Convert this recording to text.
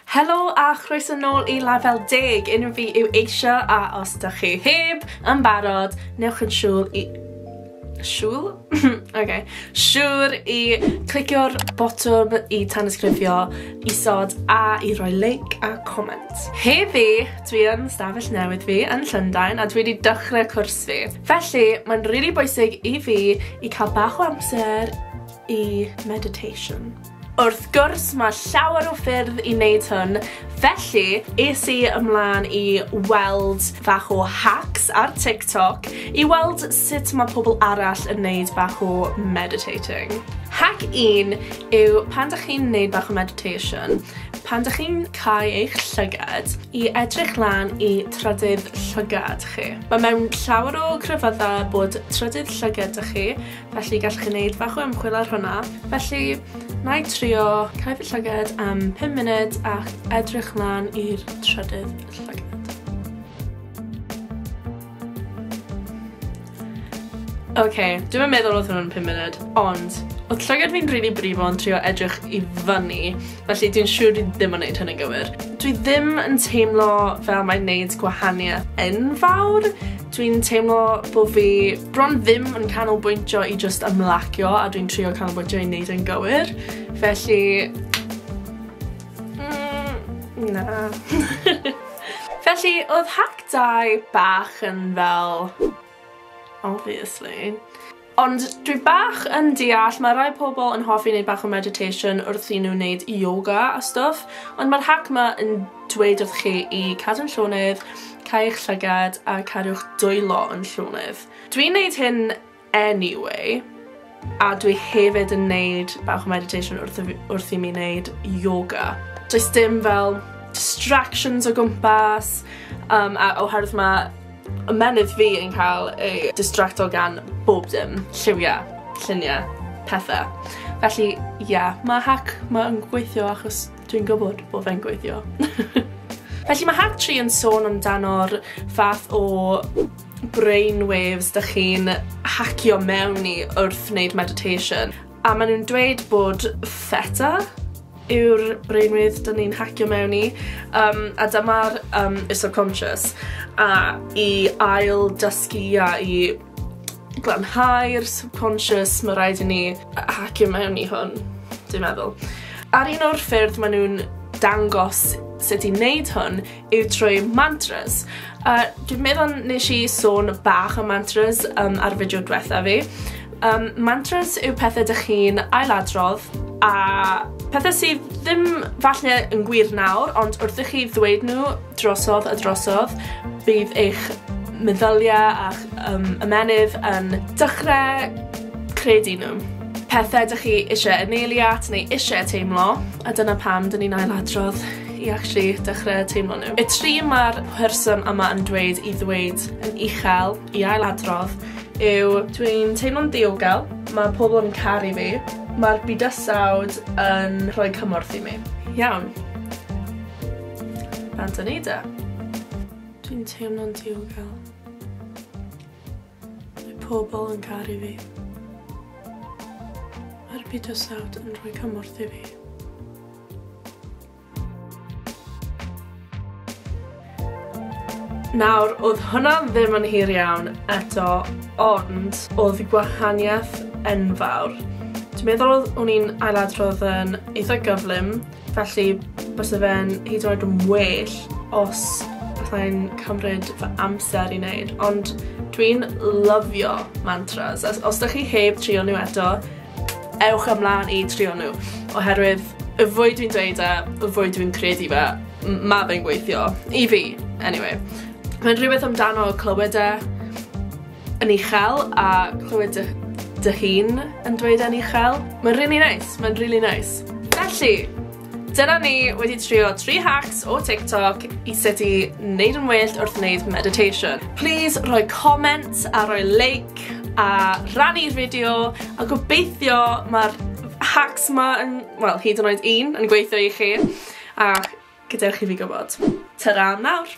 Helo a chroeso nôl i Lafel Deg, unrhyw fi yw eisio a os da chi heb yn barod, newch yn siŵl i... Siŵl? ok. Siŵr i clicio'r botwm i tanysgrifio isod a i roi like a comment. Heddi, dwi yn stafell newydd fi yn Llundain a dwi wedi dechrau cwrs fi. Felly, mae'n rili really bwysig i fi i cael bach o amser i meditation. Wrth gwrs, mae llawer o ffyrdd i wneud hwn, felly es i ymlaen i weld bach o hacks ar TikTok i weld sut mae pobl arall yn wneud bach o meditating. Hack un yw pan dych chi'n wneud bach o meditation, pan dych chi'n cau eich llygad i edrych lan i trydydd llygad chi. Mae mewn llawer o crefyddau bod trydydd llygad dych chi Felly gallwch chi wneud bach o ymchwil ar hwnna. Felly, na i trio cael fy llyged am 5 munud ac edrych mlaen i'r trydydd llyged. Oce, okay, dwi'n meddwl oedd hwnna'n 5 munud, ond oedd llygad fi'n rili brifo yn trio edrych i fyny Felly dwi'n siŵr dwi ddim yn neud hyn yn gywir. Dwi ddim yn teimlo fel mae'n neud gwahaniaeth enfawr. Dwi'n teimlo bo fi bron ddim yn canolbwyntio i just ymlacio a dwi'n trio canolbwyntio i neud yn gywir. Felly... Mm, na. Felly, oedd hack dau bach yn fel... Obviously. Ond dwi bach yn deall, mae rai pobl yn hoffi wneud bach o meditation wrth i nhw wneud yoga a stwff, ond mae'r hac ma yn dweud wrth chi i cadw'n llonydd, cael eich llygad a cadw'ch dwylo yn llonydd. Dwi'n wneud hyn anyway, a dwi hefyd yn wneud bach o meditation wrth, wrth i mi wneud yoga. Does dim fel distractions o gwmpas, um, a oherwydd mae Ymennydd fi yn cael ei distracto gan bob dim, lliwiau, lluniau, pethau. Felly, ie, yeah, mae hack mae'n gweithio achos dwi'n gwybod bod fe'n gweithio. Felly mae hack 3 yn sôn amdano'r fath o brainwaves dych chi'n hacio mewn i wrth wneud meditation. A maen nhw'n dweud bod feta yw'r brainwedd dyn ni'n hacio mewn i, um, a dyma'r um, y subconscious, a i ail dysgu a i glanhau'r subconscious, mae rhaid i ni hacio mewn i hwn, dwi'n meddwl. Ar un o'r ffyrdd maen nhw'n dangos sut i wneud hwn yw trwy mantras. A dwi'n meddwl nes i sôn bach am mantras um, ar fideo diwetha fi. Um, mantras yw pethau dych chi'n ailadrodd a pethau sydd ddim falle yn gwir nawr, ond wrth i chi ddweud nhw drosodd a drosodd, bydd eich meddyliau a'ch um, ymenydd yn dechrau credu nhw. Pethau dych chi eisiau yn eiliad neu eisiau teimlo, a dyna pam dyn ni'n ailadrodd i actually dechrau teimlo nhw. Y tri mae'r person yma yn dweud i ddweud yn uchel i ailadrodd yw dwi'n teimlo'n ddiogel, mae pobl yn caru fi, mae'r bydysawd yn rhoi cymorth i mi. Iawn. Fan dyn ni da. Dwi'n teimlo'n diogel. Mae pobl yn caru fi. Mae'r bydysawd yn rhoi cymorth i fi. Nawr, oedd hwnna ddim yn hir iawn eto, ond oedd gwahaniaeth enfawr. Dwi'n meddwl oedd o'n i'n ailadrodd yn eitha gyflym, felly bys y fe'n hyd yn oed yn well os allai'n cymryd fy amser i wneud, ond dwi'n lyfio mantras. Os, os da chi heb trio nhw eto, Ewch ymlaen i trio nhw, oherwydd y fwy dwi'n dweud e, y fwy dwi'n credu fe, mae fe'n gweithio. I fi, anyway. Mae'n rhywbeth amdano clywed e yn uchel a clywed dy, dy hun yn dweud e'n uchel. Mae'n really nice, mae'n really nice. Felly, Dyna ni wedi trio 3 hacks o TikTok i sut i neud yn well wrth neud meditation. Plîs rhoi comment a rhoi like a rannu'r fideo a gobeithio mae'r hacks ma yn, wel, hyd yn oed un yn gweithio i chi a gadewch i fi gwybod. Tara am nawr!